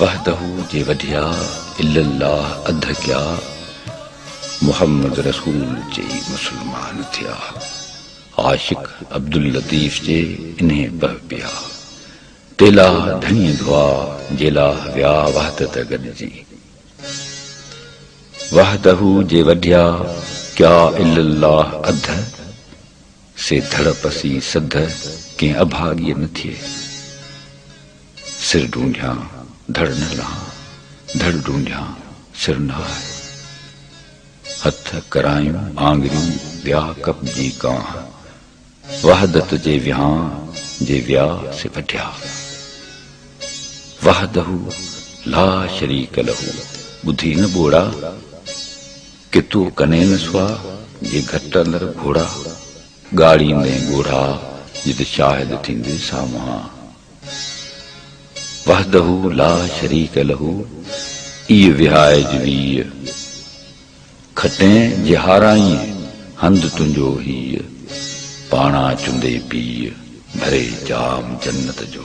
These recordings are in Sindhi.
وحده جي وڍيا الا الله اڌ ڪيا محمد رسول چئي مسلمان ٿيا عاشق عبداللطيف چئي انهي پهه پيا تيلاه ڌڻي ڌئا جيلاه ويا وحدته گڏجي وحده جي وڍيا ڪيا الا الله اڌ سي ڌڙ پسي سڌ ڪنهن اڀاڳيء نه ٿئي. سر ڍونڍيان ڌڙ نه لهان، ڌڙ ڍونڍيان سر نه آهه. هٿ، ڪرايون، آڱريون، ويا ڪپ جي ڪانه. وحدت جي ويهان جي ويا سي وڍيا. وحده لا شريڪ له ٻڌي نه ٻوڙا! ڪتو ڪنين سوا، جي گهٽ اندر گهوڙا، ڳاڙيندين ڳوڙها، جت شاهد ٿيندين سامهان. وحده لا شريڪ له، ايء وهائج ويء، کٽين جي هارائين، هنڌ تنهنجو هيء، پاڻان چندي پيء، ڀري جام جنت جو.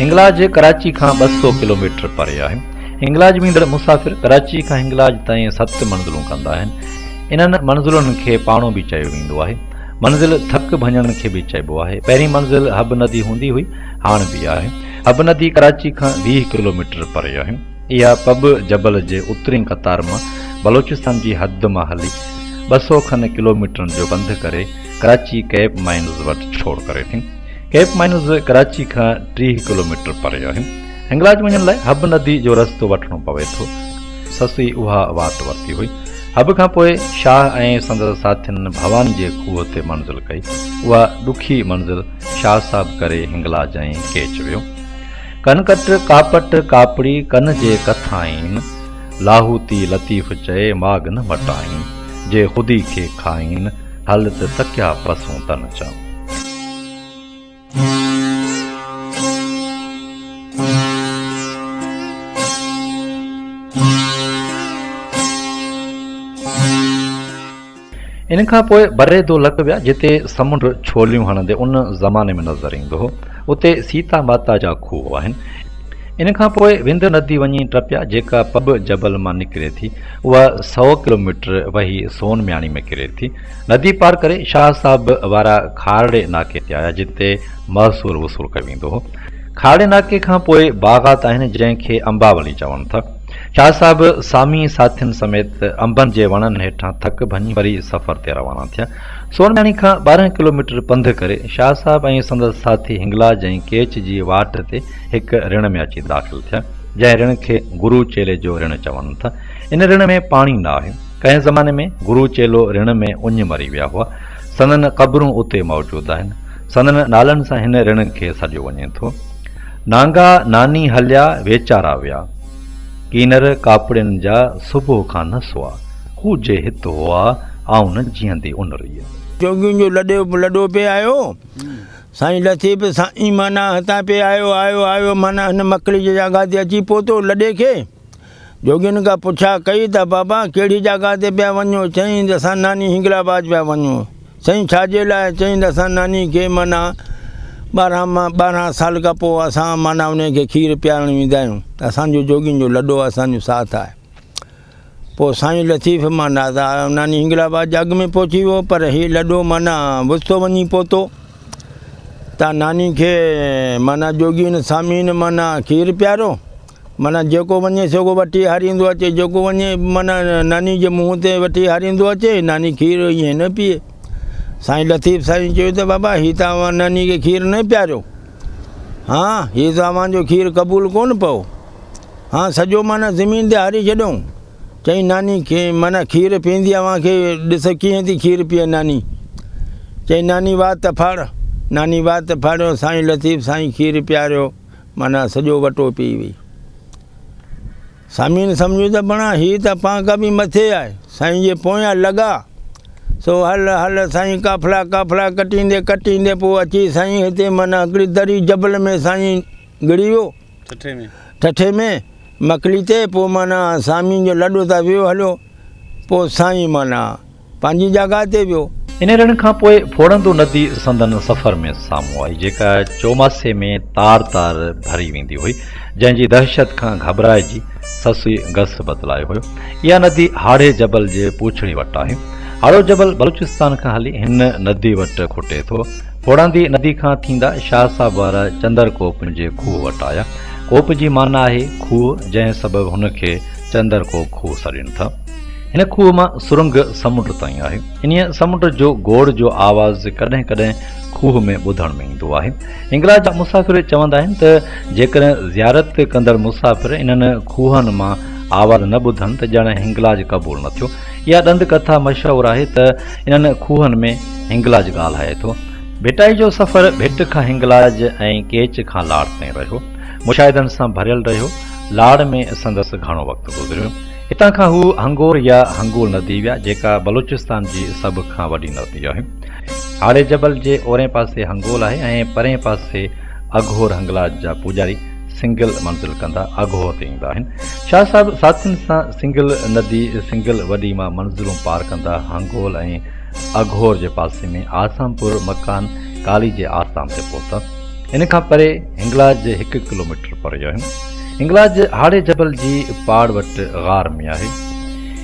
هنگلاج ڪراچي کان ٻه سؤ ڪلوميٽر پري آهي. هنگلاج ويندڙ مسافر ڪراچي کان هنگلاج تائين ست منزلون ڪندا آهن. انهن منزلن کي پاڻو به چيو ويندو آهي. منزل ٿڪ ڀڃڻ کي به چئبو آهي. پهرين منزل حب ندي هوندي هئي، هاڻ به آهي. حب ندي ڪراچي کان ويهه ڪلوميٽر پري آهي. اها پٻ جبل جي اترين قطار مان بلوچستان جي حد مان هلي ٻه سؤ کن ڪلوميٽرن جو بند ڪري ڪراچي ڪيپ مائنز وٽ ڇوڙ ڪري ٿي. ڪيپ مائنز ڪراچي کان ٽيهه ڪلوميٽر پري آهي. هنگلاج وڃڻ لاء حب ندي جو رستو وٺڻو پوي ٿو. سسئي اها واٽ ورتي هئي. حب کان پوء شاهه ۽ سندس ساٿين ڀوان جي کوهه تي منزل ڪئي. اها ڏکي منزل شاهه صاحب ڪري هنگلاج ۽ ڪيچ ويو. ڪنڪٽ، ڪاپٽ، ڪاپڙي، ڪن جي ڪٿائين. لاهوتي لطيف چئي، ماڳ نه مٽائين. جي خودي کي کائين، هل ته تڪيا پسون تن چئون. ان کان پوء بري دولڪ ويا جتي سمنڊ ڇوليون هڻندي ان زماني ۾ نظر ايندو هو. اتي سيتا ماتا جا کوهه آهن. ان کان پوء وند ندي وڃي ٽپيا جيڪا پٻ جبل مان نڪري ٿي. اها سؤ ڪلوميٽر وهي سون مياڻي ۾ ڪري ٿي. ندي پار ڪري شاهه صاحب وارا کارڙي ناڪي تي آيا جتي محصول وصول ڪيو ويندو هو. کارڙي ناڪي کان پوء باغات آهن جنهن کي امباولي چون ٿا. شاهه صاحب سامي ساٿين سميت انبن جي وڻن هيٺان ٿڪ ڀڃي وري سفر تي روانا ٿيا. سورمياڻي کان ٻارهن ڪلوميٽر پنڌ ڪري شاهه صاحب ۽ سندس ساٿي هنگلاج ۽ ڪيچ جي واٽ تي هڪ رڻ ۾ اچي داخل ٿيا، جنهن رڻ کي گرو چيلي جو رڻ چون ٿا. ان رڻ ۾ پاڻي نه آهي. ڪنهن زماني ۾ گرو چيلو رڻ ۾ اڃ مري ويا هئا. سندن قبرون اتي موجود آهن. سندن نالن سان هن رڻ کي سڏيو وڃي ٿو. نانگا ناني هليا ويچارا ويا. ڪينر ڪاپڙين جا صبح کان نه سوا. هو جي هت هئا، آئون نه جيئندي ان ريء. جوڳين جو لڏيو لڏو پئي آيو. سائين لٿي به سائين معنيٰ هتان پئي آيو، آيو، آيو معنيٰ هن مڪليء جي جاڳا تي اچي پهتو. لڏي کي. جوڳين کان پڇا ڪئي ته بابا ڪهڙي جاڳا تي پيا وڃو؟ چيائين ته اسان ناني هنگل آباد پيا وڃون. چيائين ڇا جي لاء؟ چيائين ته اسان ناني کي معنيٰ ٻارهن مان ٻارهن سال کان پوء اسان معنيٰ انهي کي کير پيارڻ ويندا آهيون ته اسان جو جوڳين جو لڏو اسان جو ساٿ آهي. پوء سائين لطيف مان نادا ناني هنگل آباد جي اڳ ۾ پهچي ويو پر هي لڏو معنيٰ وسطو وڃي پهتو ته ناني کي معنيٰ جوڳين سامين معنيٰ کير پياريو. معنيٰ جيڪو وڃي سيڪو وٺي هاريندو اچي، جيڪو وڃي معنيٰ ناني جي منهن تي وٺي هاريندو اچي، ناني کير ائين نه پيئي. سائين لطيف سائين چيو ته بابا هي ته اوهان ناني کي کير نه پياريو. هان هي ته اوهان جو کير قبول ڪونه پئو. هان سڄو معنيٰ زمين تي هاري ڇڏيئون. چئي ناني معنيٰ کير پيئندي اوهان کي ڏس ڪيئن ٿي کير پيئي ناني. چئي ناني وات ڦاڙ. ناني وات ڦاڙيو سائين لطيف سائين کير پياريو. معنيٰ سڄو وٽو پيئي وئي. سامعين سمجهيو ته بڻا هي ته پانڪا به مٿي آهي، سائين جي پويان لڳا. سو هل هل سائين قافلا قافلا ڪٽيندي ڪٽيندي پوء اچي سائين هتي معنيٰ هڪڙي دري جبل ۾ سائين گڙي ويو. ٺٺي ۾. ٺٺي ۾. مڪلي تي پوء معنيٰ سامعين جو لڏو ته ويو هليو. پوء سائين معنيٰ. پنهنجي جاگاهه تي ويو. انهي رڻ کان پوء ڦوڙندو ندي سندن سفر ۾ سامهون آئي، جيڪا چوماسي ۾ تار تار ڀري ويندي هئي، جنهن جي دهشت کان گهٻرائجي سسئي گس بدلايو هيو. اها ندي هاڙهي جبل جي پوڇڙي وٽ آهي. هاڙهو جبل بلوچستان کان هلي هن ندي وٽ کوٽي ٿو. ڦوڙندي ندي کان ٿيندا شاهه صاحب وارا چندر ڪوپ جي کوهه وٽ آيا. ڪوپ جي معنيٰ آهي کوهه، جنهن سبب هن کي چندر ڪوپ کوهه سڏين ٿا. هن کوهه مان سرنگ سمنڊ تائين آهي. انهيء سمنڊ جو گوڙ جو آواز ڪڏهن ڪڏهن کوهه ۾ ٻڌڻ ۾ ايندو آهي. هنگلاج جا مسافر چوندا آهن ته جيڪڏهن زيارت ڪندڙ مسافر انهن کوهن مان آواز نه ٻڌن ته ڄڻ هنگلاج قبول نه ٿيو. اها ڏند ڪٿا مشهور آهي ته انهن کوهن ۾ هنگلاج ڳالهائي ٿو. ڀٽائي جو سفر ڀٽ کان هنگلاج ۽ ڪيچ کان لاڙ تائين رهيو. مشاهدن سان ڀريل رهيو. لاڙ ۾ سندس گهڻو وقت گذريو. هتان کان هو هنگور يا هنگول ندي ويا، جيڪا بلوچستان جي سڀ کان وڏي ندي آهي. هاڙهي جبل جي اورئين پاسي هنگول آهي ۽ پرئين پاسي اگهور هنگلاج جا پوڄاري سنگل منزل ڪندا اگهور تي ايندا آهن. شاهه صاحب ساٿين سان سنگل ندي سنگل وڏي مان منزلون پار ڪندا هنگول ۽ اگهور جي پاسي ۾ آسام پور مڪان ڪالي جي آستان تي پهتا. ان کان پري هنگلاج جي هڪ ڪلوميٽر پري آهن. هنگلاج هاڙهي جبل جي پاڙ وٽ غار ۾ آهي.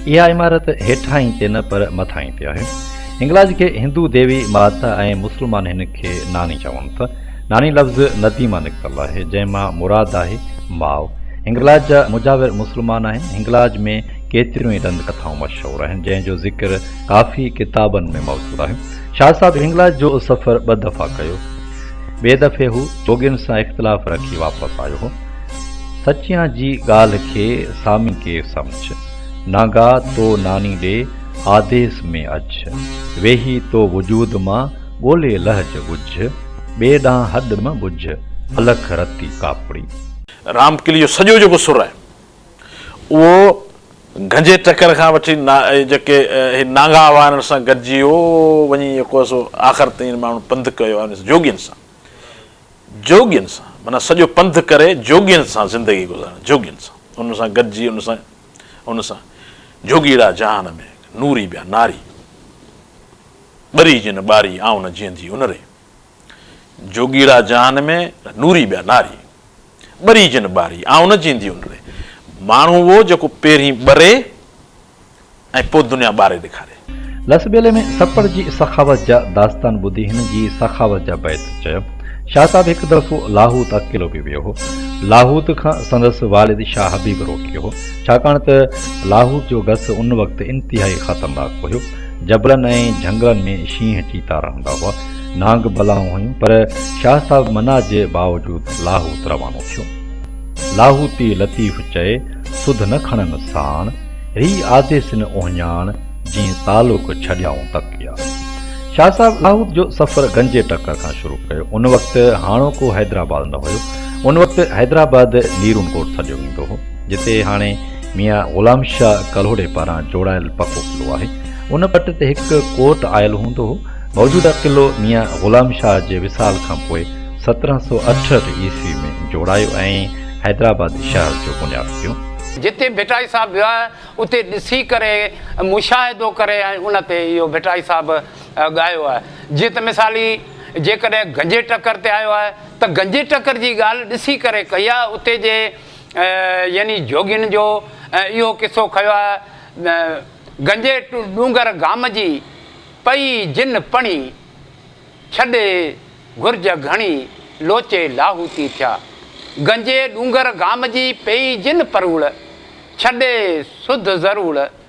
اها عمارت هيٺاهين تي نه پر مٿاهين تي آهي. هنگلاج کي هندو ديوي مات ۽ مسلمان هن کي ناني چون ٿا. ناني لفظ ندي مان نڪتل آهي جنهن مان مراد آهي ماء. هنگلاج جا مجاور مسلمان آهن. هنگلاج ۾ ڪيتريون ئي ڏند ڪٿائون مشهور آهن جنهن جو ذڪر ڪافي ڪتابن ۾ موجود آهي. شاهه صاحب هنگلاج جو سفر ٻه دفعا ڪيو. ٻئي دفعي هو جوڳين سان اختلاف رکي واپس آيو هو. سچيان جي ڳالهه کي سامي ڪير سمجهه. نانگا تو ناني ڏي آديس ۾ اچ. ويهي تو وجود مان ڳولي لهج ڳجهه. ٻئي ڏانهن هڏ م ٻجهه الک رتي ڪاپڙي. رام ڪلي جو سڄو جيڪو سر آهي اهو گهنجي ٽڪر کان وٺي جيڪي هي نانگا وارن سان گڏجي هو وڃي يڪو سو آخر تائين ماڻهن پنڌ ڪيو آهي جوڳين سان جوڳين سان معنيٰ سڄو پنڌ ڪري جوڳين سان زندگي گذارڻ جوڳين سان ان سان گڏجي ان سان ان سان جوڳيڙا جهان ۾ نوري ٻيا ناري ٻري جن ٻاري آئون نه جيئندي ان ري جوڳيڙا جهان ۾ نوري ٻيا ناري، ٻري جن ٻاري، آئون نه جيندي ان ڙي. ماڻهو اهو جيڪو پهرين ٻري ۽ پوء دنيا ٻاري ڏيکاري. لسٻيلي ۾ سپر جي سخاوت جا داستان ٻڌي هن جي سخاوت جا بيت چيو. شاهه صاحب هڪ دفعو لاهوت اڪيلو به ويو هو. لاهوت کان سندس والد شاهه حبيب روڪيو هو، ڇاڪاڻ ته لاهوت جو گس ان وقت انتهائي خطرناڪ هيو. جبلن ۽ جهنگلن ۾ شينهن چيتا رهندا هئا، نانگ بلائون هيون پر شاهه صاحب منع جي باوجود لاهوت روانو ٿيو. لاهوتي لطيف چئي سڌ نه کڻن ساڻ، ري آديسن اهڃاڻ، جيئن تعلق ڇڏيائون تڪيا. شاهه صاحب لاهوت جو سفر گنجي ٽڪر کان شروع ڪيو. ان وقت هاڻوڪو حيدرآباد نه هيو. ان وقت حيدرآباد نيرون ڪوٽ سڏيو ويندو هو. جتي هاڻي ميان غلام شاهه ڪلهوڙي پاران جوڙايل پڪو قلعو آهي. ان پٽ تي هڪ ڪوٽ آيل هوندو هو. موجوده قلعو ميان غلام شاهه جي وصال کان پوء سترهن سؤ اٺهٺ عيسوي ۾ جوڙايو ۽ حيدرآباد شهر جو بنياد پيو. جتي ڀٽائي صاحب ويو آهي اتي ڏسي ڪري مشاهدو ڪري ۽ ان تي اهو ڀٽائي صاحب ڳايو آهي. جيئن ته مثالي جيڪڏهن گنجي ٽڪر تي آيو آهي ته گنجي ٽڪر جي ڳالهه ڏسي ڪري ڪئي آهي اتي جي يعني جوڳين جو اهو قصو کيو آهي، گنجي ڏونگر گام جي، پئي جن پڻي، ڇڏي گهرج گهڻي، لوچي لاهوتي ٿيا. گنجي ڏونگر گام جي، پئي جن پروڙ، ڇڏي سڌ ضرور،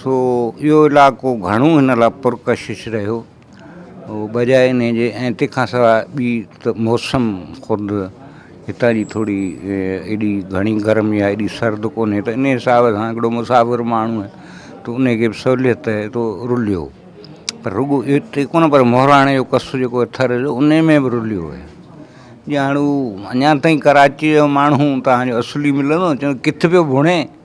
سو اهو علائقو گهڻو هن لاء پرڪشش رهيو بجاء ان جي ۽ تنهن کان سواء ٻي ته موسم خود هتان جي ٿوري ايڏي گهڻي گرم يا ايڏي سرد ڪونهي ته ان حساب سان هڪڙو مسافر ماڻهو آهي ته ان کي به سهوليت رهي ٿو رليو پر رڳو ايتري ڪونه پر مهراڻ جو قصو جيڪو آهي ٿر جو ان ۾ به رليو آهي ڄڻ هو اڃا تائين ڪراچيء جو ماڻهو تنهنجو اصلي ملندو ڪٿ پيو ڀڻي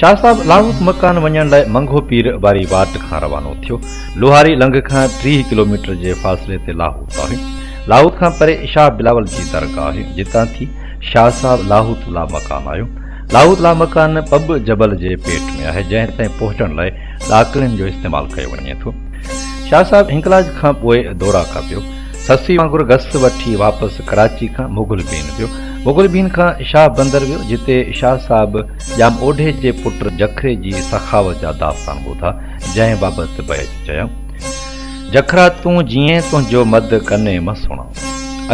شاهه صاحب لاهوت مڪان وڃڻ لاء منگهو پير واري واٽ کان روانو ٿيو. لوهاري لنگهه کان ٽيهه ڪلوميٽر جي فاصلي تي لاهوت آهي. لاهوت کان پري شاهه بلاول جي درگاهه آهي، جتان ٿي شاهه صاحب لاهوت لامڪان آيو. لاهوت لامڪان پٻ جبل جي پيٽ ۾ آهي، جنهن تائين پهچڻ لاء ڏاڪڻين جو استعمال ڪيو وڃي ٿو. شاهه صاحب هنگلاج کان پوء دورا ڪا پيو. سسي وانگر گس وٺي واپس ڪراچي کان مغل بين ويو. مغل بين کان شاهه بندر ويو، جتي شاهه صاحب ڄام اوڍي جي پٽ جکري جي سخاوت جا داستان ٻڌا، جنهن بابت بيت چيائون. جکرا تون جيئين تنهنجو مد ڪني م سڻان.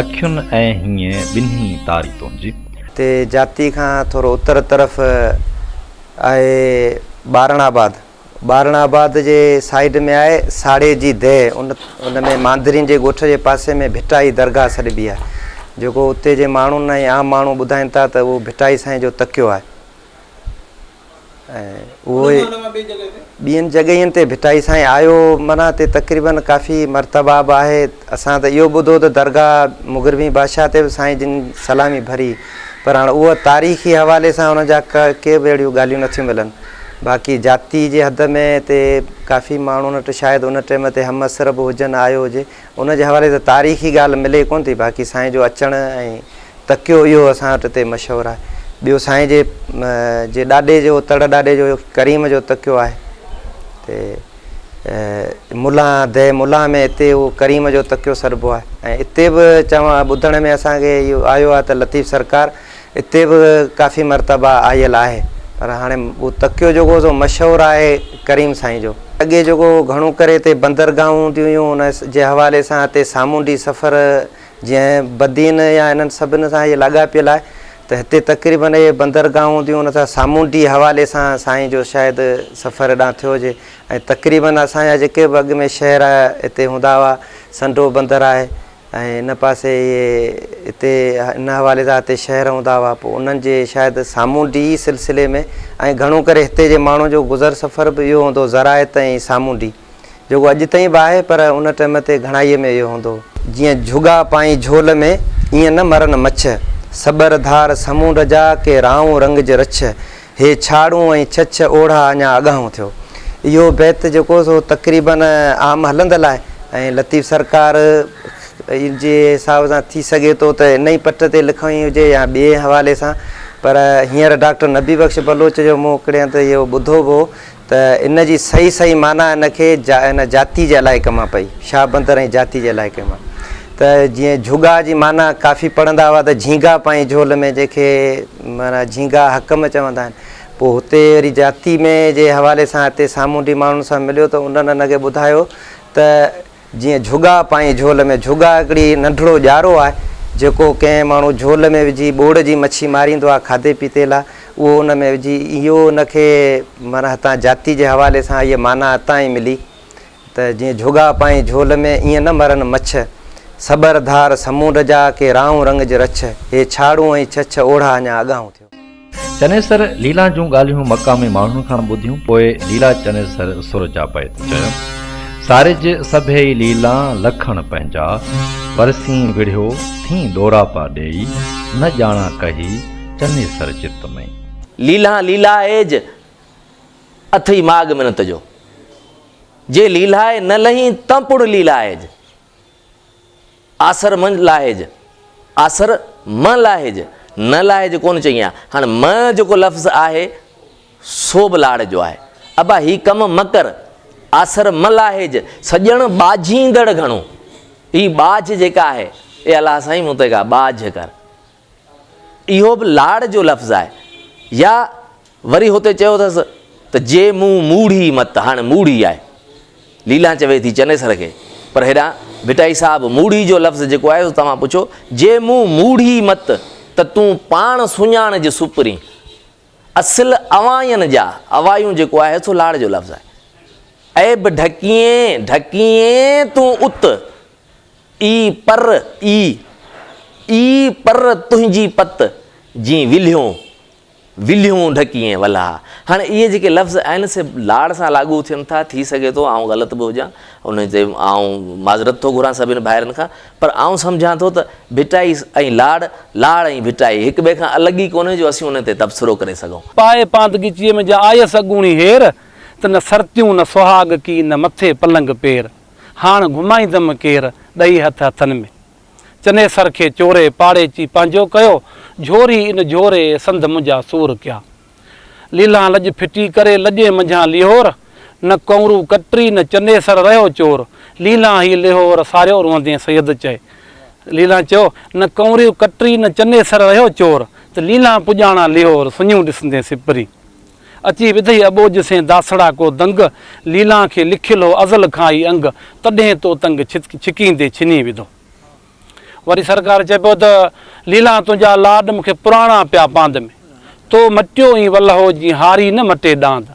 اکين ۽ هينئين ٻنهي تاري تنهنجي. تي جاتي کان ٿورو اتر طرف آهي ٻارڻ آباد. ٻارڻ آباد جي سائيڊ ۾ آهي ساڙي جي ديهه ان ان ۾ مانڌرين جي ڳوٺ جي پاسي ۾ ڀٽائي درگاهه سڏبي آهي جيڪو اتي جي ماڻهن ۽ عام ماڻهو ٻڌائين ٿا ته اهو ڀٽائي سائين جو تڪيو آهي ۽ اهو ئي ٻين جڳهين تي ڀٽائي سائين آيو منا هتي تقريبن ڪافي مرتبا به آهي اسان ته اهو ٻڌو ته درگاهه مغربي بادشاهه تي به سائين جن سلامي ڀري پر هاڻ اهو تاريخي حوالي سان ان جا ڪي به اهڙيون ڳالهيون نه ٿيون ملن. باقي جاتي جي حد ۾ تي ڪافي ماڻهن وٽ شايد ان ٽيم تي همعصر به هجن آيو هجي. ان جي حوالي سان تاريخي ڳالهه ملي ڪونه ٿي. باقي سائين جو اچڻ ۽ تڪيو اهو اسان وٽ تي مشهور آهي. ٻيو سائين جي جي ڏاڏي جو تڙ ڏاڏي جو ڪريم جو تڪيو آهي تي. ملان دي ملان ۾ اتي اهو ڪريم جو تڪيو سڏبو آهي ۽ اتي به چوان ٻڌڻ ۾ اسانکي اهو آيو آهي ته لطيف سرڪار اتي به ڪافي مرتبه آيل آهي پر هاڻي اهو تڪيو جيڪو سو مشهور آهي ڪريم سائين جو اڳي جيڪو گهڻو ڪري اتي بندرگاهون هونديون هيون ان جي حوالي سان اتي سامونڊي سفر جنهن بدين يا انهن سڀني سان اهي لاڳاپيل آهي ته هتي تقريبن اهي بندرگاهون هونديون ان سان سامونڊي حوالي سان سائين جو شايد سفر هيڏانهن ٿيو هجي ۽ تقريبن اسان جا جيڪي به اڳ ۾ شهر هتي هوندا هئا سنڍو بندر آهي ۽ ان پاسي اهي هتي ان حوالي سان هتي شهر هوندا هئا پوء انهن جي شايد سامونڊي سلسلي ۾ ۽ گهڻو ڪري هتي جي ماڻهن جو گذر سفر به اهو هوندو زراعت ۽ سامونڊي جيڪو اڄ تائين به آهي پر ان ٽئم تي گهڻائيء ۾ اهو هوندو هو. جيئن جهڳا پائين جهول ۾، ايئن نه مرن مڇ. سٻر ڌار سمونڊ جا، ڪي رائون رنگ جي رڇ. هي ڇاڙون ۽ ڇڇ، اوڙها اڃا اڳاهون ٿيو. اهو بيت جيڪو سو تقريباً عام هلندل آهي ۽ لطيف سرڪار جي حساب سان ٿي سگهي ٿو ته ان ئي پٽ تي لکڻي هجي يا ٻئي حوالي سان پر هينئر ڊاڪٽر نبي بخش بلوچ جو مون هڪڙي هنڌ اهو ٻڌو به هو ته ان جي صحيح صحيح معنيٰ ان کي جا ان جاتي جي علائقي مان پئي، شاهه بندر ۽ جاتي جي علائقي مان. ته جيئن جهڳا جي معنيٰ ڪافي پڙهندا هئا ته جهينگا پائين جهول ۾ جنهن کي معنيٰ جهينگا حڪم چوندا آهن. پوء هتي وري جاتي ۾ جي حوالي سان هتي سامونڊي ماڻهن سان مليو ته انهن ان کي ٻڌايو ته. جيئن جهڳا پائين جهول ۾، جهڳا هڪڙي ننڍڙو ڄارو آهي جيڪو ڪنهن ماڻهو جهول ۾ وجهي ٻوڙ جي مڇي ماريندو آهي کاڌي پيتي لاء اهو ان ۾ وجهي اهو ان کي معنيٰ هتان جاتي جي حوالي سان اهي معنيٰ اتان ئي ملي ته جيئن جهڳا پائين جهول ۾، ايئن نه مرن مڇ سٻر ڌار سمونڊ جا ڪي رائون رنگ جي رڇ هي ڇاڙون ۽ ڇڇ اوڙها اڃا اڳاهون ٿيو. چنيسر ليلا جون ڳالهيون مقامي ماڻهن کان ٻڌيون پوء ليلا چنيسر سر جا بيت چيو، سارج سڀيئي ليلا لکڻ پنهنجا، پرسين وڙهيو ٿين ڏوراپا ڏيئي، نه ڄاڻا ڪهي چنيسر چت ۾. ليلا ليلا ايج اٿئي ماڳ منت جو، جي ليلا ئي نه لهين تنهن پڻ ليلا ايج. آسر منجھ لاهج، آسر مان لاهج، نه لاهج ڪونه چئي آ. هاڻ مان جيڪو لفظ آهي سو به لاڙ جو آهي. ابا هي ڪم مه ڪر، آسر مه لاهج، سڄڻ ٻاجهيندڙ گهڻو. هي ٻاجهه جيڪا آهي، اي الله سائين مون تي ڪا ٻاجهه ڪر. اهو به لاڙ جو لفظ آهي. يا وري هتي چيو اٿس ته جي مون موڙهي مت، هاڻي موڙهي آهي. ليلان چوي ٿي چنيسر کي، پر هيڏانهن ڀٽائي صاحب موڙهي جو لفظ جيڪو آهي، سو توهان پڇو، جي مون موڙهي مت ته تون پاڻ سڃاڻج سپرين. اصل اوائين جا، اوائيون جيڪو آهي سو لاڙ جو لفظ آهي. عيب ڍڪيين، ڍڪيين تون ات، اي پر اي، اي پر تنهنجي پت جي ولهيون، ولهيون ڍڪيين ولها. هاڻي اهي جيڪي لفظ آهن سي لاڙ سان لاڳو ٿين ٿا، ٿي سگهي ٿو آئون غلط به هجان، ان تي آئون معذرت ٿو گهران سڀني ڀائرن کان، پر آئون سمجهان ٿو ته ڀٽائي ۽ لاڙ، لاڙ ۽ ڀٽائي هڪ ٻئي کان الڳ ئي ڪونهي جو اسين ان تي تبصرو ڪري سگهون. پائي پاندڳچيء ۾ جا آيس اڳوڻي هير، ته نه سرتيون نه سهاڳ ڪي نه مٿي پلنگ پير. هاڻ گهمائيندم ڪير، ڏئي هٿ هٿن ۾. چنيسر کي چوري، پاڙيچي پنهنجو ڪيو. جهوري ان جهوري، سنڌ منهنجا سور ڪيا. ليلان لڄ ڦٽي ڪري، لڄي منجهان ليهور. نه ڪنورو ڪٽري، نه چنيسر رهيو چور. ليلان هي ليهور، ساريو روئندين سيد چئي. ليلان چيو، نه ڪنورو ڪٽري، نه چنيسر رهيو چور. ته ليلان پڄاڻان ليهور، سڃون ڏسندين سپري. اچي وڌئي اٻوجهه سين داسڙا ڪو دنگ، ليلان کي لکيل هو ازل کان ئي انگ، تڏهن تو تنگ ڇت ڇڪيندي ڇني وڌو. وري سرڪار چئي پيو ته، ليلان تنهنجا لاڏ مون کي پراڻا پيا پاند ۾، تو مٽيو ايئن ولهو جيئن هاري نه مٽي ڏاند،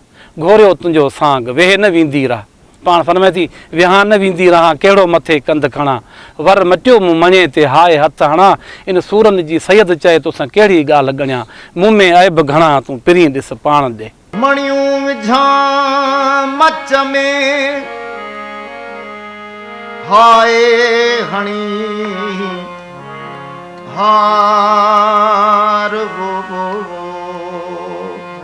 گهوريو تنهنجو سانگ، ويهي نه ويندي راهه. پاڻ فرمائي ٿي، ويهان نه ويندي رهان، ڪهڙو مٿي ڪنڌ کڻان، ور مٽيو مون مڻي تي، هاء هٿ هڻان، ان سورن جي سيد چئي، توسان ڪهڙي ڳالهه ڳڻيان، مون ۾ عيب گهڻا، تون پرين ڏس پاڻ ڏي. مڻيون وجهان مچ ۾، هاء هڻي هار وو وو.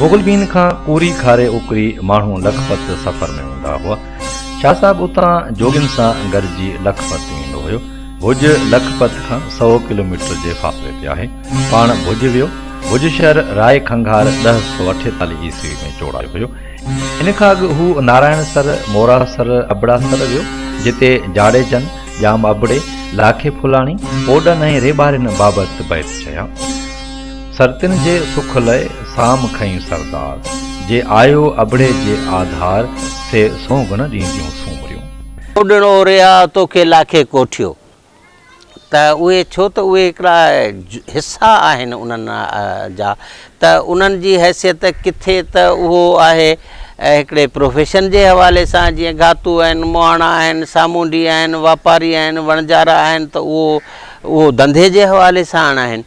مغل بين کان ڪوري کاري اوڪري ماڻهو لکپت سفر ۾ هوندا هئا. شاهه صاحب اتان جوڳين سان گڏجي لکپت ويندو هيو. ڀڄ لکپت کان سؤ ڪلوميٽر جي فاصلي تي آهي. پاڻ ڀڄ ويو. ڀڄ شهر راء کنگهار ڏهه سؤ اٺيتاليهه عيسوي ۾ چوڙايو هيو. ان کان اڳ هو نارائڻ سر، مورا سر، ابڙا سر ويو، جتي جاڙيجن، ڄام ابڙي، لاکي ڦولاڻي، اوڏن ۽ ريٻارين بابت بيت چيا. سرتين جي سک لئه، سام کنئين سردار. جي آيو ابڙي جي آڌار، سي سونگڻ ڏينديون سومريون. اوڏن اوريا، توکي لاکي ڪوٺيو. ته اهي ڇو ته اهي هڪڙا حصا آهن انهن جا ته انهن جي حيثيت ڪٿي ته اهو آهي هڪڙي پروفيشن جي حوالي سان جيئن گهاتو آهن مهاڻا آهن سامونڊي آهن واپاري آهن وڻجارا آهن ته اهو اهو ڌنڌي جي حوالي سان آهن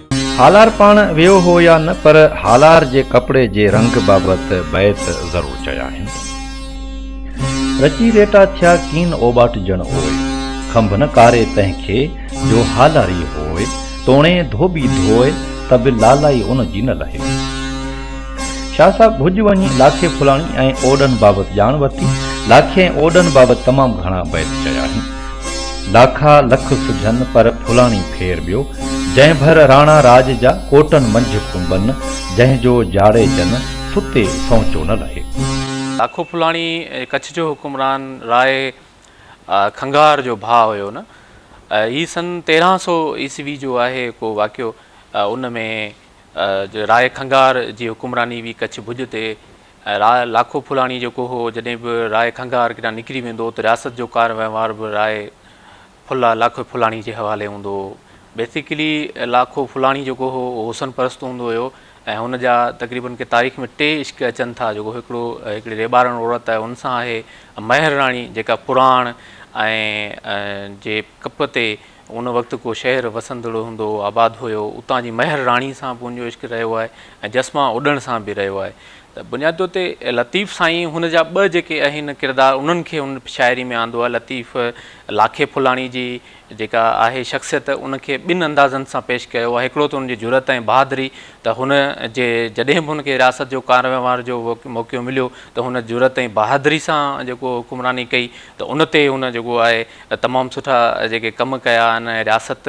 هالار پاڻ ويو هو يا نه پر هالار جي ڪپڙي جي رنگ بابت بيت ضرور چيا آهن. رچي ريٽا ٿيا ڪين اوٻاٽ جڻ اوء. کنڀ نه ڪاري تنهن کي جو هالاري هوء. توڻي ڌوٻي ڌوء ته به لالائي ان جي نه لهي. شاهه صاحب ڀڄ وڃي لاکي ڦلاڻي ۽ اوڏن بابت ڄاڻ ورتي. لاکي ۽ اوڏن بابت تمام گهڻا بيت چيا آهن. لاکا لک سجهن پر ڦلاڻي ڦير ٻيو. جنهن ڀر راڻا راڄ جا ڪوٽن منجهه ڪنبن، جنهن جو جاڙيجن ستي سهچو نه لهي. لاکو ڦلاڻي ڪڇ جو حڪمران راء کنگهار جو ڀاء هيو نه. هي سن تيرهن سؤ عيسوي جو آهي ڪو واقعو. ان ۾ راء کنگهار جي حڪمراني هئي ڪڇ ڀڄ تي. ۽ راء لاکو ڦلاڻي جيڪو هو، جڏهن به راء کنگهار ڪيڏانهن نڪري ويندو ته رياست جو ڪار وهنوار به راء ڦلا لاکو ڦلاڻي جي حوالي هوندو هو. بيسيڪلي لاکو ڦلاڻي جيڪو هو اهو حسن پرست هوندو هيو ۽ هن جا تقريبن ڪي تاريخ ۾ ٽي عشق اچن ٿا جيڪو هڪڙو هڪڙي ريٻارڻ عورت آهي ان سان آهي مهر راڻي جيڪا پراڻ ۽ جي ڪپ تي ان وقت ڪو شهر وسندڙ هوندو هو، آباد هيو، اتان جي مهر راڻي سان به ان جو عشق رهيو آهي ۽ جسمان اڏڻ سان به رهيو آهي ته بنياد طور تي لطيف سائين هن جا ٻه جيڪي اهن ڪردار انهن کي هن شاعري ۾ آندو آهي لطيف لاکي ڦلاڻي جي جيڪا آهي شخصيت ان کي ٻن اندازن سان پيش ڪيو آهي هڪڙو ته ان جي جرئت ۽ بهادري ته هن جي جڏهن به هن کي رياست جو ڪار وهنوار جو موقعو مليو ته هن جرئت ۽ بهادري سان جيڪو حڪمراني ڪئي ته ان تي هن جيڪو آهي تمام سٺا جيڪي ڪم ڪيا آهن ۽ رياست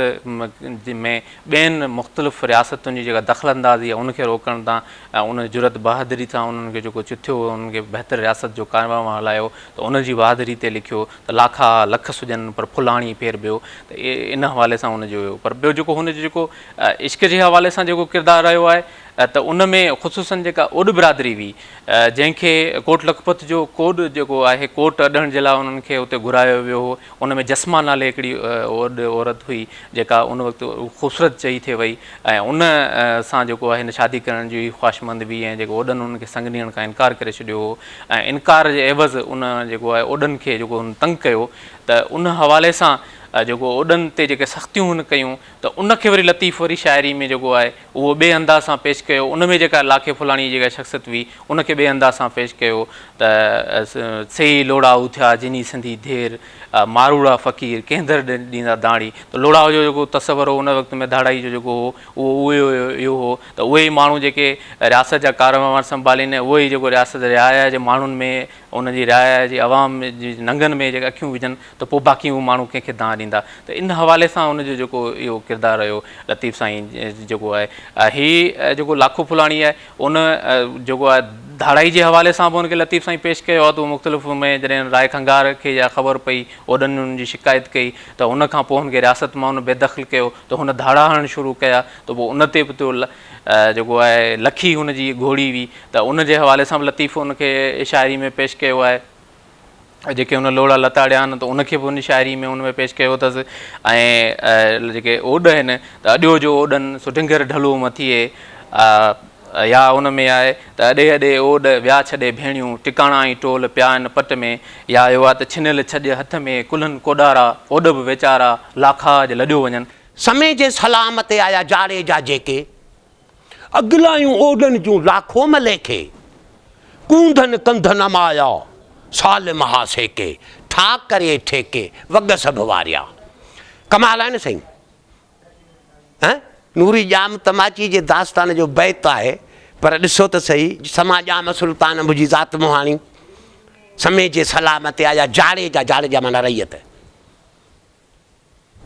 ۾ ٻين مختلف رياستن جي جيڪا دخل اندازي آهي ان کي روڪڻ تان ۽ ان جرئت بهادري سان انهن کي جيڪو چٿيو هو انهن کي بهتر رياست جو ڪارنامو هلايو ته ان جي بهادري تي لکيو ته لاکا لک سڄن پر ڦل آڻي ڦير ٻيو ته ان حوالي سان ان جو هيو پر ٻيو جيڪو هن جو جيڪو عشق جي حوالي سان جيڪو ڪردار رهيو آهي ته ان ۾ خصوصن جيڪا اوڏ برادري هئي جنهن کي ڪوٽ لکپت جو ڪوڏ جيڪو آهي ڪوٽ اڏڻ جي لاء انهن کي اتي گهرايو ويو هو ان ۾ جسما نالي هڪڙي عورت هئي جيڪا ان وقت خوبصورت چئي ٿي وئي ۽ ان سان جيڪو آهي هن شادي ڪرڻ جي خواهشمند هئي ۽ جيڪو اوڏن انهن کي سڱ ڏيڻ کان انڪار ڪري ڇڏيو هو ۽ انڪار جي عيوض ان جيڪو آهي اوڏن کي جيڪو هن تنگ ڪيو ته ان حوالي سان جيڪو اوڏن تي جيڪي سختيون هن ڪيون ته ان کي وري لطيف وري شاعري ۾ جيڪو آهي اهو ٻئي انداز سان پيش ڪيو ان ۾ جيڪا لاکي ڦلاڻيء جي ڪا شخصيت هئي ان کي ٻئي انداز سان پيش ڪيو ته سي ئي لوڙائو ٿيا جنھي سنڌي ڌير ماروئڙا فقير ڪنھن در ڏيندا داڻي ته لوڙائو جو جيڪو تصور هو ان وقت ۾ ڌاڙائي جو جيڪو هو اهو اهو اهو هو ته اهي ئي ماڻھو جيڪي رياست جا ڪارونهار سنڀالين ۽ اهو ئي جيڪو رياست رعايا جي ماڻھن ۾ ان جي راء آهي جي عوام جي ننگن ۾ جيڪي اکيون وجهن ته پوء باقي اهي ماڻهو ڪنهن کي دانهن ڏيندا ته ان حوالي سان ان جو جيڪو اهو ڪردار رهيو لطيف سائين جيڪو آهي هي جيڪو لاکو ڦلاڻي آهي ان جيڪو آهي ڌاڙائي جي حوالي سان به ان کي لطيف سائين پيش ڪيو آهي ته مختلف ۾ جڏهن راء کنگار کي اها خبر پئي اوڏن ان جي شڪايت ڪئي ته ان کان پوء هن کي رياست مان ان بيدخل ڪيو ته هن ڌاڙا هڻڻ شروع ڪيا ته پوء ان تي به جيڪو آهي لکي هن جي گهوڙي هئي ته ان جي حوالي سان به لطيف ان کي شاعري ۾ پيش ڪيو آهي ۽ جيڪي هن لوڙا لتاڙيا آهن ته ان کي به ان شاعري ۾ ان ۾ پيش ڪيو اٿس ۽ جيڪي اوڏ آهن ته اڏيو جو اوڏن سڍنگر ڍلو مٿيئي يا ان ۾ آهي ته اڏي اڏي اوڏ ويا ڇڏي ڀيڻيون ٽڪاڻا ۽ ٽول پيا آهن پٽ ۾ يا اهو آهي ته ڇنيل ڇڄ هٿ ۾ ڪلهن ڪوڏارا اوڏ به ويچارا لاکاج لڏيو وڃن سمي جي سلام تي آيا جاڙيجا جيڪي، اڳلايون اوڏن جون لاکو ملي کي، ڪونڌن ڪنڌ نمايا سالم ها سيڪي، ٺاڪ ڪري ٺيڪي وڳ سڀ واريا. ڪمال آهي نه سائين. ها نوري ڄام تماچي جي داستان جو بيت آهي پر ڏسو ته سهي سما ڄام سلطان انب جي ذات مهاڻي سمي جي سلام تي آيا جاڙيجا، جاڙيجا معنيٰ رعيت.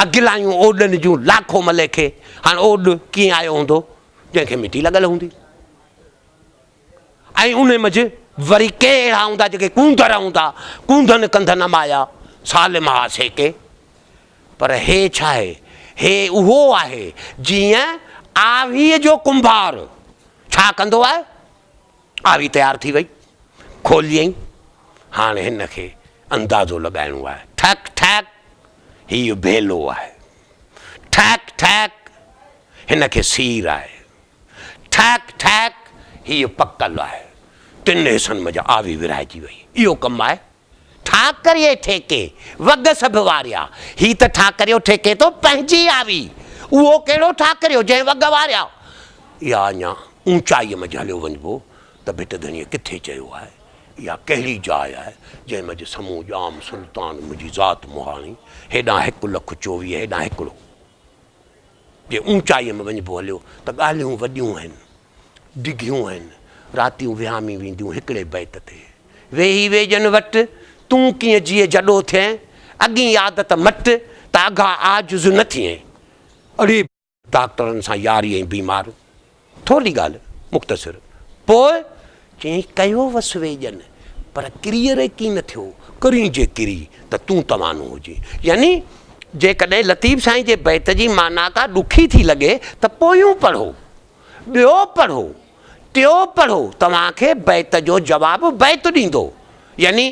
اڳلايون اوڏن جون لاکو ملي کي هاڻ اوڏ ڪيئن آيو هوندو جنهن کي مٽي لڳل هوندي ۽ ان منجهه وري ڪي اهڙا هوندا جيڪي ڪونڌر هوندا ڪونڌن ڪنڌ نه مايا سالم ها سيڪي پر هي ڇا آهي هي اهو آهي جيئن آويء جو ڪنڀار ڇا ڪندو آهي آوي تيار ٿي وئي، کوليئين، هاڻ هن کي اندازو لڳائڻو آهي، ٺڪ ٺڪ هي ڀيلو آهي، ٺڪ ٺڪ هن کي سير آهي، ٺڪ ٺڪ هي پڪل آهي، ٽن حصن منجهه آوي ورهائجي وئي، اهو ڪم آهي. ٺاڪري ٺيڪي وڳ سڀ واريا. هي ته ٺاڪريو ٺيڪي ٿو پنهنجي آوي. اهو ڪهڙو ٺاڪريو جنهن وڳ واريا. يا اڃا اوچائيء منجهه هليو وڃبو ته ڀٽ ڌڻيء ڪٿي چيو آهي؟ اها ڪهڙي جاء آهي، جنهن منجهه سمون ڄام سلطان منهنجي ذات مهاڻي، هيڏانهن هڪ لک چوويهه هيڏانهن هڪڙو. جي اوچائيء ۾ وڃبو هليو ته ڳالهيون وڏيون آهن. ڊگهيون آهن، راتيون وهامي وينديون هڪڙي بيت تي، ويهي ويڄن وٽ، تون ڪيئن جيئي جڏو ٿئين، اڳين عادت مٽ، ته اگها عاجز نه ٿئين. اڙي! ڊاڪٽرن سان ياري ۽ بيمار، ٿورڙي ڳالهه مختصر، پوء؟ چيائين، ڪيو وس ويڄن، پر ڪريء ري ڪين نه ٿيو، ڪرين جي ڪري ته تون توانو هجين. يعني جيڪڏهن لطيف سائين جي بيت جي معنيٰ ڪا ڏکي ٿي لڳي ته پويون پڙهو. ٻيو پڙهو، ٽيون پڙهو توهان کي بيت جو جواب بيت ڏيندو، يعني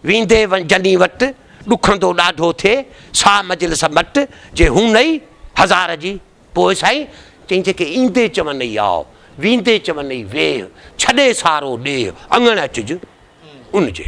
ويندي جني وٽ، ڏکندو ڏاڍو ٿئي، سا مجلس مٽ، جي هون نئي، هزار جي، پوء سائين، چئين جيڪي ايندي چونئي آء، ويندي چونئي ويهه، ڇڏي سارو ڏيهه، اڱڻ اچج ان جي.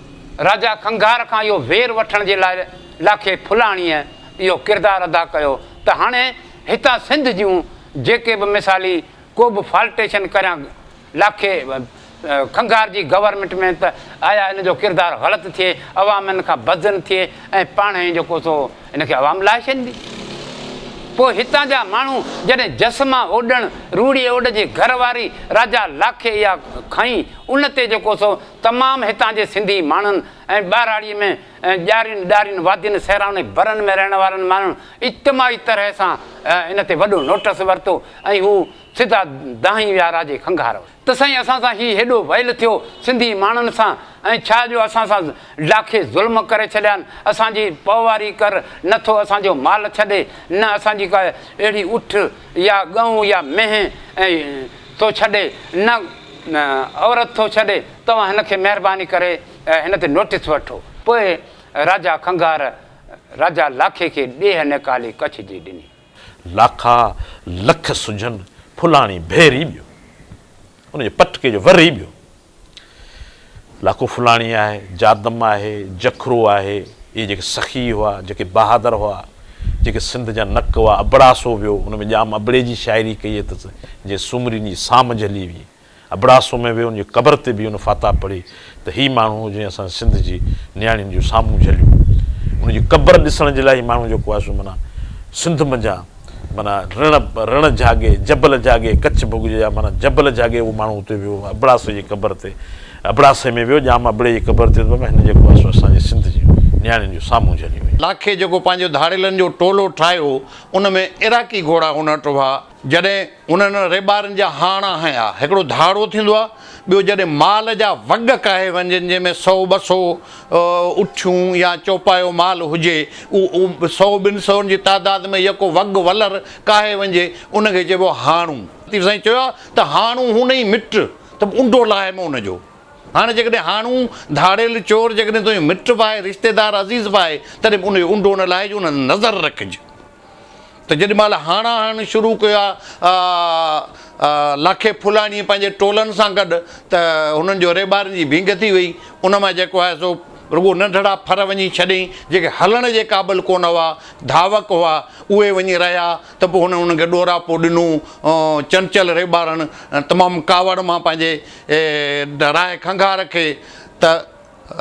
راجا کنگهار کان اهو وير وٺڻ جي لاء لاکي ڦلاڻيء اهو ڪردار ادا ڪيو ته هاڻي هتان سنڌ جون جيڪي به مثالي ڪوبه فالٽيشن ڪريان لاکي کنگهار جي گورنمينٽ ۾ ته آيا ان جو ڪردار غلط ٿئي عوام ان کان بدظن ٿئي ۽ پاڻهي ئي جيڪو سو ان کي عوام لاهي ڇڏيندي پوء هتان جا ماڻهو جڏهن جس مان اوڏڻ روڙي اوڏ جي گهر واري راجا لاکي اها کنئي ان تي جيڪو سو تمام هتان جي سنڌي ماڻهن ۽ ٻهراڙيء ۾ ڄارين ڏارين وادين صحرائن ۽ برن ۾ رهڻ وارن ماڻهن اجتماعي طرح سان ان تي وڏو نوٽس ورتو ۽ هو سڌا دانهين ويا راجي کنگهار وٽ ته سائين اسان سان هي هيڏو ويل ٿيو سنڌي ماڻهن سان ۽ ڇا جو اسان سان ڊاکي ظلم ڪري ڇڏيا آهن اسان جي پوئواري ڪر نه ٿو اسان جو مال ڇڏي نه اسان جي ڪا اهڙي اٺ يا ڳئون يا مينهن ۽ ٿو ڇڏي نه عورت ٿو ڇڏي توهان هن کي مهرباني ڪري هن تي نوٽس وٺو پوء راجا کنگهار راجا لاکي کي ڏيهه نيڪالي ڪڇ جي ڏني. لاکا لک سجهن ڦلاڻي ڀيري ٻيو ان جي پٽڪي جو وري ٻيو لاکو ڦلاڻي آهي، جادم آهي، جکرو آهي، اهي جيڪي سخي هئا، جيڪي بهادر هئا، جيڪي سنڌ جا نڪ هئا، ابڙاسو ويو، ان ۾ ڄام ابڙي جي شاعري ڪئي اٿس، جنهن سومرين جي سام جهلي هئي، ابڙاسو ۾ ويو، ان جي قبر تي بيهي ان فتاح پڙهي ته هي ماڻهو جنهن اسان سنڌ جي نياڻين جون سامون جهليون، ان جي قبر ڏسڻ جي لاء هي ماڻهو جيڪو آهي سو معنيٰ سنڌ منجهان معنيٰ رڻ، رڻ جهاڳي، جبل جهاڳي، ڪڇ ڀوڳ جي جاء معنيٰ جبل جهاڳي اهو ماڻهو اتي ويو ابڙاسي جي قبر تي ابڙاسي ۾ ويو ڄام ابڙي جي قبر تي ته بابا هن جيڪو آهي سو اسان جي سنڌ جي نياڻين جو سامهون جهلي ويو. لاکي جيڪو پنهنجو ڌاڙيلن جو ٽولو ٺاهيو ان ۾ عراقي گهوڙا ڪونه اٽوها جڏهن انهن ريٻارن جا هاڻا هنيا هڪڙو ڌاڙو ٿيندو آهي، ٻيو جڏهن مال جا وڳ ڪاهي وڃجن، جنهن ۾ سؤ ٻه سؤ اٺيون يا چوپايو مال هجي، اهو سؤ ٻن سئن جي تعداد ۾ يڪو وڳ ولر ڪاهي وڃجي، ان کي چئبو آهي هاڻو. لطيف سائين چيو آهي ته هاڻو هونئي مٽ ته انڊو لاهي م ان جو. هاڻي جيڪڏهن هاڻو، ڌاڙيل، چور جيڪڏهن تنهنجو مٽ به آهي، رشتيدار، عزيز به آهي، تڏهن به ان جو انڊو نه لاهج، ان تي نظر رکج. ته جيڏي مهل هاڻا هڻڻ شروع ڪيو آهي لاکي ڦلاڻيء پنهنجي ٽولن سان گڏ ته هنن جو ريٻارين جي ڀينگ ٿي ويئي، ان مان جيڪو آهي سو رڳو ننڍڙا ڦر وڃي ڇڏيائين، جيڪي هلڻ جي قابل ڪونه هئا، ڌاوڪ هئا، اهي وڃي رهيا ته پوء هن انهن کي ڏوراپو ڏنو، چنچل ريٻارڻ تمام ڪاوڙ مان پنهنجي راهي کنگها رکي ته.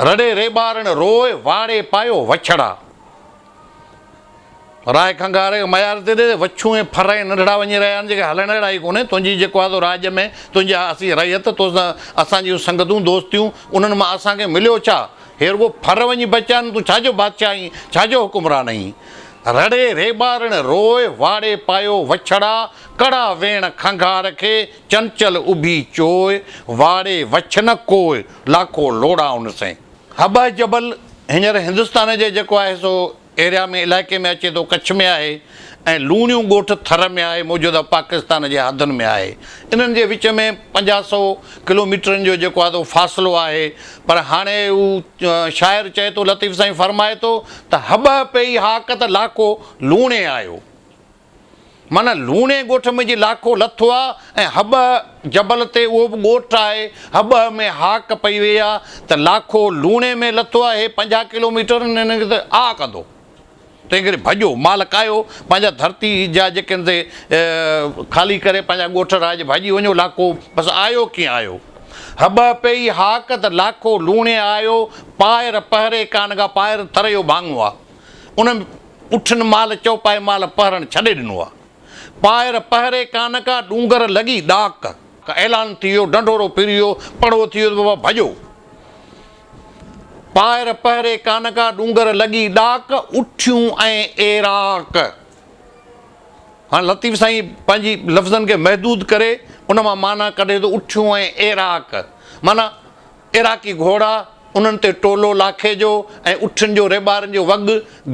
رڙي ريٻارڻ روء واڙي پايو وڇڙا. راء کنگهاري ميار تي ڏي، وڇون ۽ ڦر ۽ ننڍڙا وڃي رهيا آهن، جيڪي هلڻ اهڙا ئي ڪونهي، تنهنجي جيڪو آهي سو راڄ ۾، تنهنجي آهي اسين رعيت، تو سان اسان جيون سنگتون، دوستيون، انهن مان اسان کي مليو ڇا؟ هي رڳو ڦر وڃي بچيا آهن، تون ڇا جو بادشاهه آهين، ڇا جو حڪمران آهين؟ رڙي ريٻارڻ روء، واڙي پايو وڇڙا، ڪڙا ويڻ کنگهار کي، چنچل اڀي چوء، واڙي وڇ نه ڪوء، لاکو لوڙائون سين. هٻهه جبل هينئر هندستان جي جيڪو آهي سو ايريا ۾ علائقي ۾ اچي ٿو ڪڇ ۾ آهي ۽ لوڻيون ڳوٺ ٿر ۾ آهي موجوده پاڪستان جي حدن ۾ آهي انهن جي وچ ۾ پنجاهه سئو ڪلوميٽرن جو جيڪو آهي تو فاصلو آهي پر هاڻي هو شاعر چئي ٿو لطيف سائين فرمائي ٿو ته هٻهه پئي هاڪ ته لاکو لوڻي آيو. معنيٰ لوڻي ڳوٺ ۾ جي لاکو لٿو آ ۽ هٻهه جبل تي اهو به ڳوٺ آهي هٻهه ۾ هاڪ پئي وئي آ ته لاکو لوڻي ۾ لٿو آ هي پنجاهه ڪلو ميٽر هن کي ته آ ڪندو تنهن ڪري ڀڄو مال ڪاهيو پنهنجا ڌرتي جا جيڪي ان تي خالي ڪري پنهنجا ڳوٺ رهائج ڀڄي وڃو لاکو بس آيو ڪيئن آيو هٻهه پئي هاڪ ته لاکو لوڻي آيو پائر پهري ڪانگا پائر تريو ڀاڱو آ ان اٺن مال چوپائي مال پهرڻ ڇڏي ڏنو آ. پائر پهري ڪان ڪا ڏونگر لڳي ڏاڪ. اعلان ٿي ويو ڍنڍورو پھريو پڙو ٿي ويو ته بابا ڀڄو. پائر پهري ڪان ڪا ڏونگر لڳي ڏاڪ اٺيون ۽ ايراڪ. هاڻ لطيف سائين پنهنجي لفظن کي محدود ڪري ان مان معنيٰ ڪڍي ٿو اٺيون ۽ ايراڪ معنيٰ عراقي گهوڙا، انهن تي ٽولو لاکي جو ۽ اٺن جو ريٻارن جو وڳ،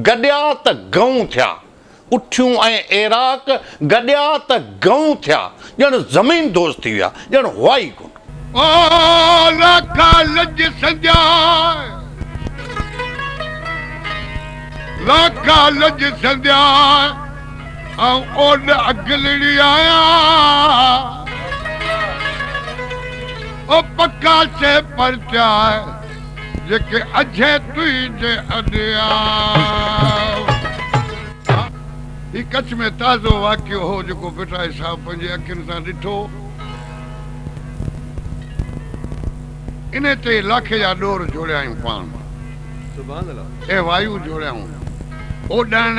گڏيا ته گئون ٿيا. اٺيون ۽ عراق گڏيا ته گئون ٿيا، ڄڻ زمين دوز ٿي ويا، ڄڻ هئا ئي ڪونه. آء لاکا لڄ سنجاء، لاکا لڄ سنجاء، آئون اوڏ اڳلڙي آهيان. او پکا سي پرچاء، جيڪي اجهي تنهنجي اڏيا. هي ڪڇ ۾ تازو واقعو هو جيڪو ڀٽائي صاحب پنهنجي اکين سان ڏٺو. انهي تي لاکي جا ڏور جوڙيائون پاڻ. اي وايو جوڙيائون اوڏاڻ.